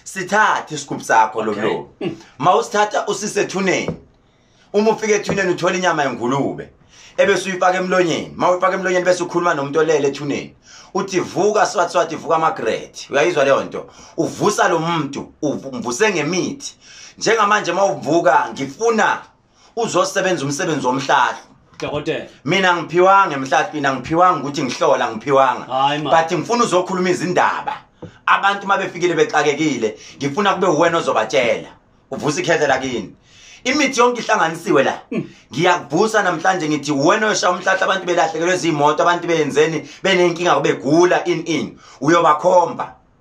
sithathe isigubhu sakho lo mlomo ma usithatha usise ethuneni uma ufika ethuneni uthola inyama yengulube ebese uyifaka emlonyeni ma uyifaka emlonyeni bese ukhuluma nomuntu olele ethuneni uthi vuka swathi swathi vuka amagrethi uyayizwa leyo nto uvusa lo muntu umvuse ngemithi njengamanje uma uvuka ngifuna uzosebenza umsebenzi womhlahlo dokotela mina ngiphiwanga emhlahlo mina ngiphiwanga ukuthi ngihlola ngiphiwanga but ngifuna uzokhuluma izindaba abantu uma befikile bexakekile ngifuna kube uwena ozobatshela uvusa ikhethe lakini imithi yonke ihlanganisiwe la hmm. ngiyakuvusa namhlanje ngithi wena oshaya umhlahla abantu belahlekelwe izimoto abantu beyenzeni benenkinga kubegula in in uyobakhomba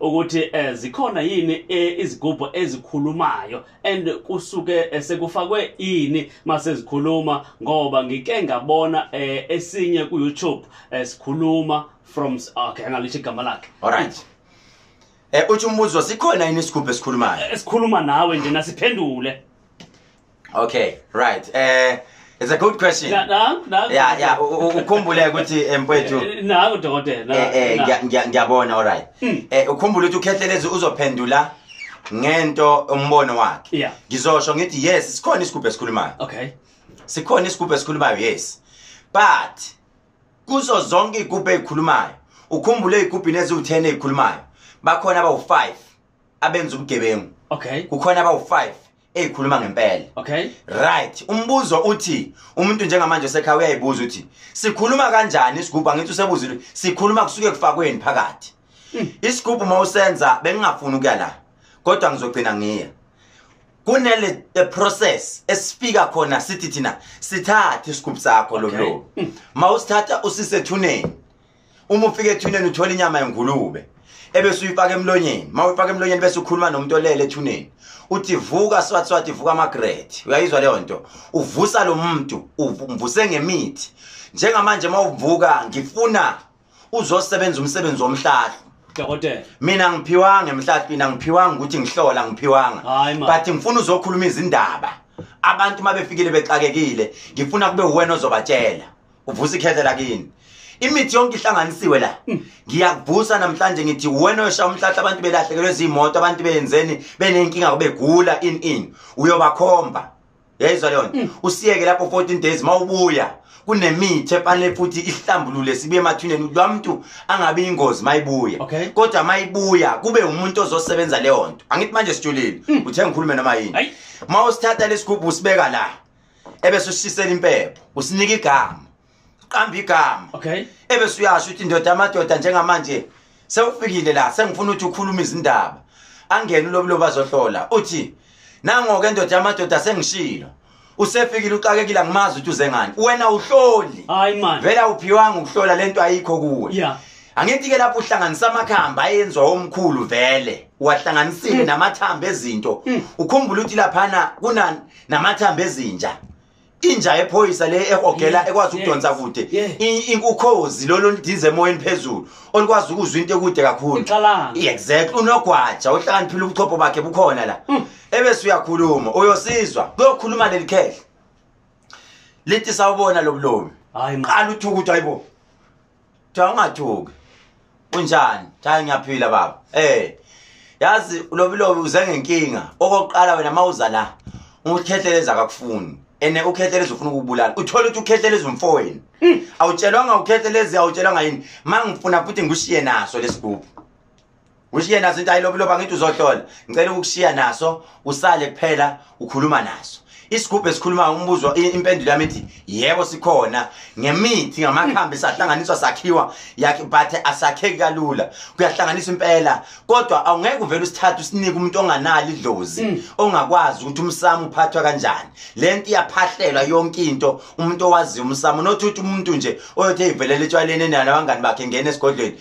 ukuthi eh, zikhona yini eh, izigubhu ezikhulumayo and kusuke eh, sekufakwe yini mase zikhuluma ngoba ngike ngabona eh, esinye ku YouTube eh, sikhuluma from okay ngalithi igama lakhe alright eh uthi umbuzo sikhona yini isigubhu esikhulumayo esikhuluma nawe nje nasiphendule okay right eh It's a good question. Na, na, na, yeah, yeah. Ukhumbule ukuthi eh, mfethu. Eh, Naku dokotela. Eh, eh ngiyabona all right. Hmm. Eh ukhumbule ukuthi ukhethelezi uzophendula ngento umbono wakhe. Yeah. Ngizosho ngithi yes, sikhona isigubhe esikhulumayo. Okay. Sikhona isigubhe esikhulumayo yes. But kuzo zonke igubhe ezikhulumayo, ukhumbule igubhe neziwu10 ezikhulumayo. Bakhona abawu5 abenza ubugebengu. Okay. Kukhona abawu5 eyikhuluma ngempela okay right umbuzo uthi umuntu njengamanje osekhaya uyayibuza uthi sikhuluma kanjani isigubhu angithi usebuzile sikhuluma kusuke kufakweni phakathi hmm. isigubhu uma usenza bengingafuni ukuya la kodwa ngizogcina ngiya kunele the process esifika khona sithi thina sithathe isigubhu sakho lo mlo hmm. mawusithatha usisethuneni uma ufika ethuneni uthola inyama yengulube ebese uyifaka emlonyeni uma uyifaka emlonyeni bese ukhuluma nomuntu olele ethuneni uthi vuka swathi swathi vuka amagrethi uyayizwa leyo nto uvusa lo muntu umvuse ngemithi njengamanje uma uvuka ngifuna uzosebenza umsebenzi womhlahlo dokotela mina ngiphiwanga emhlahlo mina ngiphiwanga ukuthi ngihlola ngiphiwanga but ngifuna uzokhuluma izindaba abantu uma befikile bexakekile ngifuna kube uwena ozobatshela uvusa ikhethe lakini imithi yonke ihlanganisiwe la mm. ngiyakuvusa namhlanje ngithi wena oyosha umhlahla abantu belahlekelwe zimoto abantu benzeni benenkinga kubegula in in uyobakhomba yayizwa leyo mm. usiyeke lapho 14 days mawubuya kunemithi efanele futhi ihlambulule sibe emathuneni ukuthi lwamuntu angabe ingozi mayibuya okay. kodwa mayibuya kube umuntu ozosebenza leyo nto angithi manje sijulile mm. uthe ngikhulume noma yini mawusithatha lesigubhu usibeka la ebese usisela impepho usinika igama uqamba igama okay ebese uyasho ukuthi indoda amadoda njengamanje sewufikile la sengifuna ukuthi ukhulume izindaba angene ulobulo bazohlola uthi nangoke indoda yamadoda sengishilo usefikile uxakekile angimazi ukuthi uze ngani wena uhloli hayi man vela uphiwanga ukuhlola lento ayikho kuwe yeah angithi ke lapho uhlanganisa amakhamba ayenziwa omkhulu vele wahlanganisile mm. namathambo ezinto mm. ukhumbula ukuthi laphana kunani namathambo ezinja inja ephoyisa le ehogela ekwazi ukudonsa kude ukhozi lolo oludize emoyeni phezulu olukwazi ukuzwa into ekude kakhulu exactly unogwaja ohlakaniphile ubuchopho bakhe bukhona la mm. ebese uyakhuluma uyosizwa kuyokhuluma leli khehle lithi sawubona lobulomi qala uthukuthi ayibo kuthiwa ungathuki unjani cha ngiyaphila baba eh yazi ulobilobi uze ngenkinga okokuqala wena mawuza la ukhetheleza akakufuni ene ukhetheleza ufuna ukubulala uthola ukuthi ukhetheleza umfowenu hmm. awutshelwanga ukhetheleza awutshelwanga yini mangifuna futhi ngishiye naso lesigubhu ushiye naso into ayilobiloba ngithi uzohlola ngicela ukushiya naso usale kuphela ukhuluma naso isigubhu esikhuluma umbuzo impendulo yami ithi yebo sikhona ngemithi ngamakhambi sahlanganiswa sakhiwa yakhe but asakheki kalula kuyahlanganiswa impela kodwa awungeke uvele usithathe usinike umuntu onganali idlozi mm. ongakwazi ukuthi umsamo uphathwa kanjani le nto iyaphahlelwa yonke into umuntu owaziyo umsamo nothi uthi umuntu nje oyothi eyivelele etshwaleni enalo abangani bakhe ngena esigodlweni